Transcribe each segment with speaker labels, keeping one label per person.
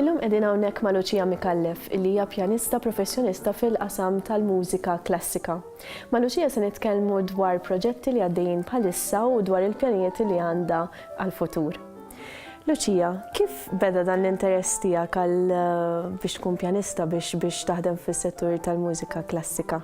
Speaker 1: Illum qegħdin hawnhekk ma' Lucia Micallef, illi hija pjanista professjonista fil-qasam tal-mużika klassika. Ma' Lucia se nitkellmu dwar proġetti li għaddejjin bħalissa u dwar il-pjanijiet li għandha għall-futur. Lucia, kif beda dan l-interess tiegħek għal eh, biex tkun pjanista biex biex taħdem fis-settur tal-mużika klassika?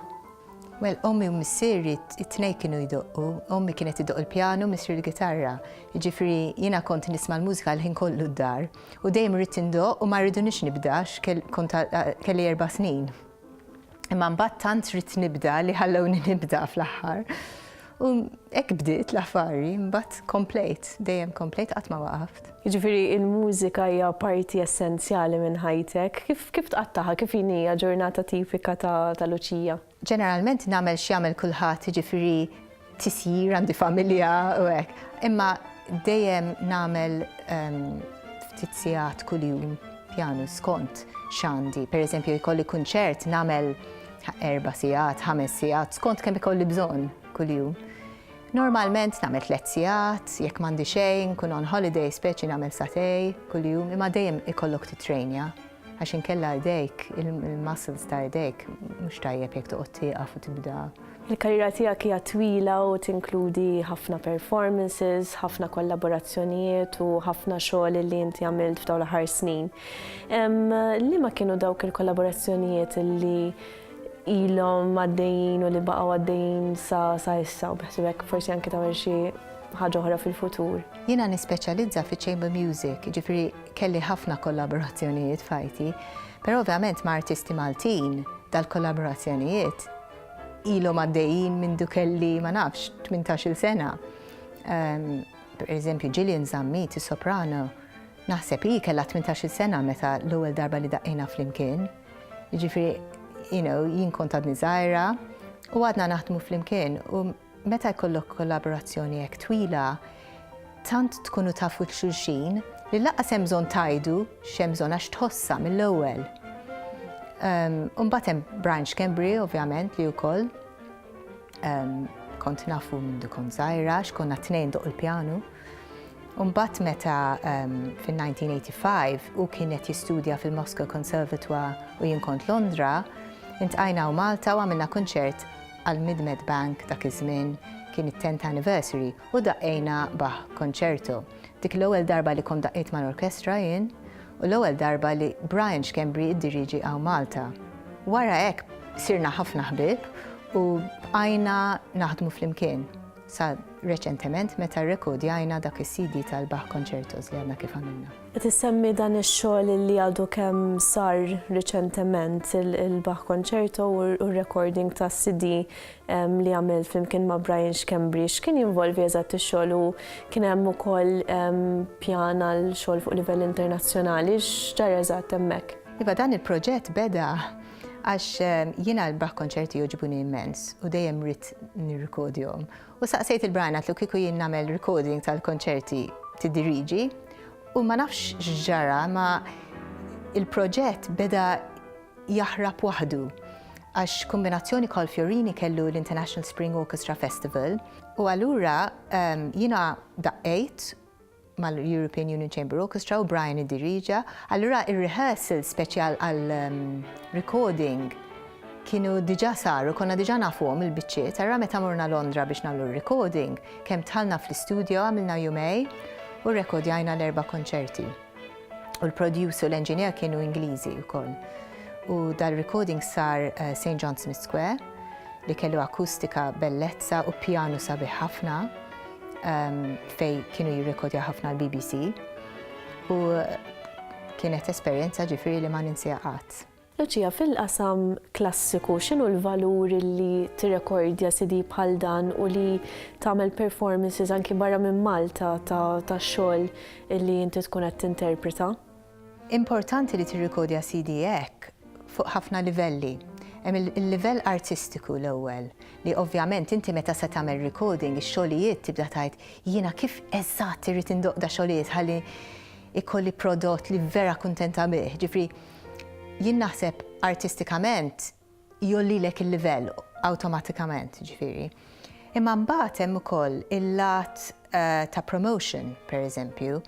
Speaker 1: Well,
Speaker 2: ommi u missieri t-tnejn kienu jdoqqu. Ommi kienet idoqq il-pjanu u missieri l-gitarra. Jiġifieri jiena kont nisma' l-mużika l-ħin kollu d-dar u dejjem ridt indoqq u ma rridunix nibda għax kont kelli erba' snin. Imma mbagħad tant ridt nibda li ħallewni nibda fl-aħħar. U hekk bdiet l-affari, mbagħad komplejt, dejjem komplejt qatt ma waqaft. Jiġifieri l-mużika
Speaker 1: hija parti essenzjali minn ħajtek. Kif kif tqattagħha, kif inhi ġurnata tipika ta' ta' Luċija? Ġeneralment nagħmel
Speaker 2: x'jagħmel kulħadd, jiġifieri tisjir, għandi familja u hekk. Imma dejjem nagħmel ftit sigħat kuljum pjanu skont x'għandi. Pereżempju jkolli kunċert nagħmel Erba' sigħat, ħames sigħat, skont kemm ikolli bżonn kuljum. Normalment nagħmel tliet sigħat, jekk m'għandi xejn, kun on holiday speċi nagħmel satej kuljum, imma dejjem ikollok titrejnja għax inkella jdejk, il-muscles ta' jdejk, mhux tajjeb jekk toqgħod tieqaf u tibda. Il-karriera tiegħek
Speaker 1: hija twila u tinkludi ħafna performances, ħafna kollaborazzjonijiet u ħafna xogħol li inti għamilt f'dawn l-aħħar snin. Liema kienu dawk il-kollaborazzjonijiet li ilhom għaddejjin u li baqgħu għaddejjin sa sa issa u beħsibek forsi anke tagħmel xi ħaġa oħra fil-futur. Jiena nispeċjalizza
Speaker 2: fi chamber music, ġifri kelli ħafna kollaborazzjonijiet fajti, però ovvjament ma' artisti Maltin dal-kollaborazzjonijiet ilhom għaddejjin minn dukelli ma nafx 18-il sena. Ehm, per eżempju, Gillian Zammit, soprano, Naħseb hi kellha tmintax-il sena meta l-ewwel darba li daqqejna flimkien. Jiġifieri, you know, jien kont għadni żgħira u għadna naħdmu flimkien u meta jkollok kollaborazzjoni hekk twila, tant tkunu tafu l xulxin li laqqas hemm bżonn tgħidu x'hemm bżonn għax tħossha mill-ewwel. Imbagħad ehm, hemm Brian Schembri, ovvjament, li wkoll Kont nafu mindu kont zaħira, xkonna t-tnejn doq il-pjanu. Umbat meta fil-1985 u kienet jistudja fil-Moscow Conservatoire u jien kont Londra, intqajna u Malta u għamilna kunċert għal Midmed Bank dak iż-żmien kien it-10th anniversary u daqqejna baħ konċertu. Dik l-ewwel darba li kont daqqejt mal-orkestra jien U l-ewwel darba li Brian Schembri iddirieġi hawn Malta. Wara hekk sirna ħafna ħbieb u bqajna naħdmu flimkien sa reċentement meta rrekordjajna dak is-CD tal-Bach Concertos li għadna kif għamilna. Qed issemmi dan
Speaker 1: ix-xogħol li għadu kemm sar riċentement il-Bach Concerto u r-recording tas-CD li għamilt flimkien ma' Brian Xkembri, x'kien jinvolvi eżatt ix-xogħol u kien hemm ukoll pjan għal xogħol fuq livell internazzjonali, x'ġar eżatt hemmhekk? Iva dan il-proġett
Speaker 2: beda għax jiena l-Bach konċerti joġbuni immens u dejjem rrid nirrikodjhom. U saqsejt il-Brian għatlu kieku jien nagħmel recording tal-konċerti tiddiriġi u ma nafx x'ġara ma il-proġett beda jaħrab waħdu għax kombinazzjoni Carl Fiorini kellu l-International Spring Orchestra Festival u allura jiena daqqejt mal-European Union Chamber Orchestra u Brian id-diriġa, allura ir-rehearsal speċjal għal recording kienu diġa saru, konna diġa nafuhom il-biċċiet, għarra meta morna Londra biex nagħmlu recording, kemm tħalna fl-istudio għamilna jumej u rekordjajna l-erba' konċerti. U l-producer u l-engineer kienu Ingliżi wkoll. U dal-recording sar eh, St. John Smith Square li kellu akustika bellezza u pjanu sabiħ ħafna ehm, fej kienu jirrekodja ħafna l-BBC. U kienet esperjenza ġifiri li ma ninsija qatt. Luċija, fil-qasam
Speaker 1: klassiku, x'inhu l-valur li tirrekordja CD bħal dan u li tagħmel performances anki barra minn Malta ta' xogħol li inti tkun qed tinterpreta? Importanti
Speaker 2: li tirrikodja CD hekk fuq ħafna livelli. Hemm il-livell artistiku l-ewwel, li ovvjament inti meta se tagħmel recording ix-xogħlijiet tibda tgħid jiena kif eżatt irrid indoqda xogħlijiet ħalli jkolli prodott li vera kuntenta bih. Ġifieri Jien naħseb artistikament jgħollilek il-livell awtomatikament, jiġifieri. Imma mbagħad hemm ukoll il-lat eh, ta' promotion, per eżempju,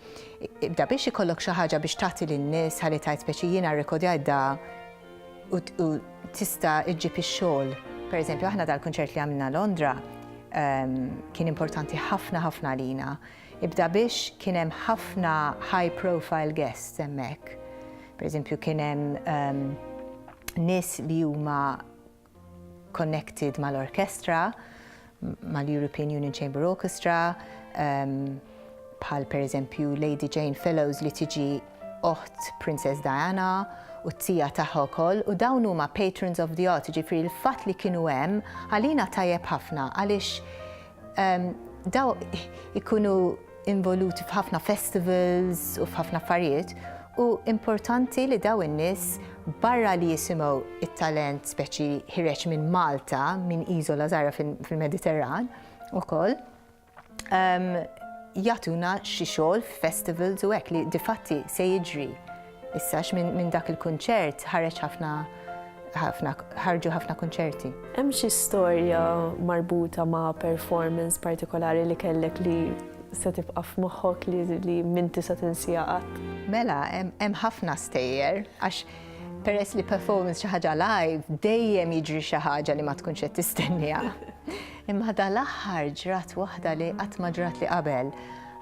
Speaker 2: ibda biex ikollok xi ħaġa biex tagħti lin-nies ħalli tajt speċi jiena rrekodjajt da u tista' iġġib ix-xogħol. Per eżempju, aħna dal-kunċert li għamilna Londra ehm, kien importanti ħafna ħafna għalina Ibda biex kien hemm ħafna high profile guests hemmhekk. Per eżempju kien hemm um, nies li huma connected mal-orkestra, mal-European Union Chamber Orchestra, um, bħal per eżempju Lady Jane Fellows li tiġi oħt Princess Diana u t-tija taħħa wkoll u dawn huma patrons of the art, ġifri l-fatt li kienu hemm għalina tajjeb ħafna għaliex Daw ikunu involuti f'ħafna festivals u f'ħafna affarijiet u importanti li daw in-nies barra li jisimgħu it-talent speċi ħireġ minn Malta, minn iżola żgħira fil-Mediterran ukoll, ehm, jagħtuna xi xogħol f'festivals u hekk li difatti se jiġri Issa għax minn dak il-kunċert ħareġ ħafna ħarġu ħafna kunċerti. Hemm xi storja
Speaker 1: marbuta ma' performance partikolari li kellek li se tibqa' f'moħħok li minn tista' tinsija qatt? Mela, hemm
Speaker 2: ħafna stejjer għax peress li performance xi ħaġa live dejjem jiġri xi ħaġa li ma tkunx qed tistenniha. Imma ħada l-aħħar ġrat waħda li qatt ma ġrat li qabel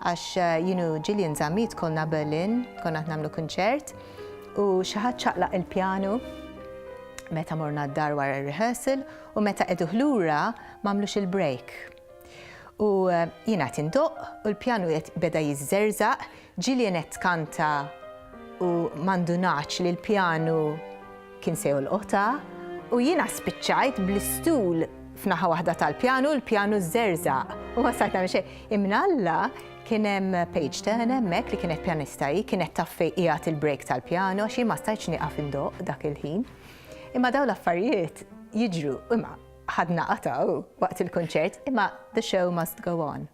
Speaker 2: Għax jien u Gillian Zammit kollna Berlin, konna qed nagħmlu kunċert, u xi ħadd ċaqlaq il-pjanu meta morna d-dar wara r-rehearsal u meta qegħduh lura m'għamlux il-break. U jiena qed indoqq u l-pjanu qed beda jiżżerżaq, Gillian qed tkanta u ma ndunatx li l-pjanu Kien se jolqotha u jiena spiċċajt bl-istul f'naħa waħda tal-pjanu, l-pjanu żerżaq. U ma stajt nagħmel xejn. Imnalla kien hemm Paige Turner hemmhekk li kienet pjanista hi, kienet taf fejn qiegħed il-break tal-pjanu għax jien ma stajtx nieqaf indoqq dak il-ħin. Imma dawn l-affarijiet jiġru, imma ħadna qatgħu waqt il-kunċert, imma the show must go on.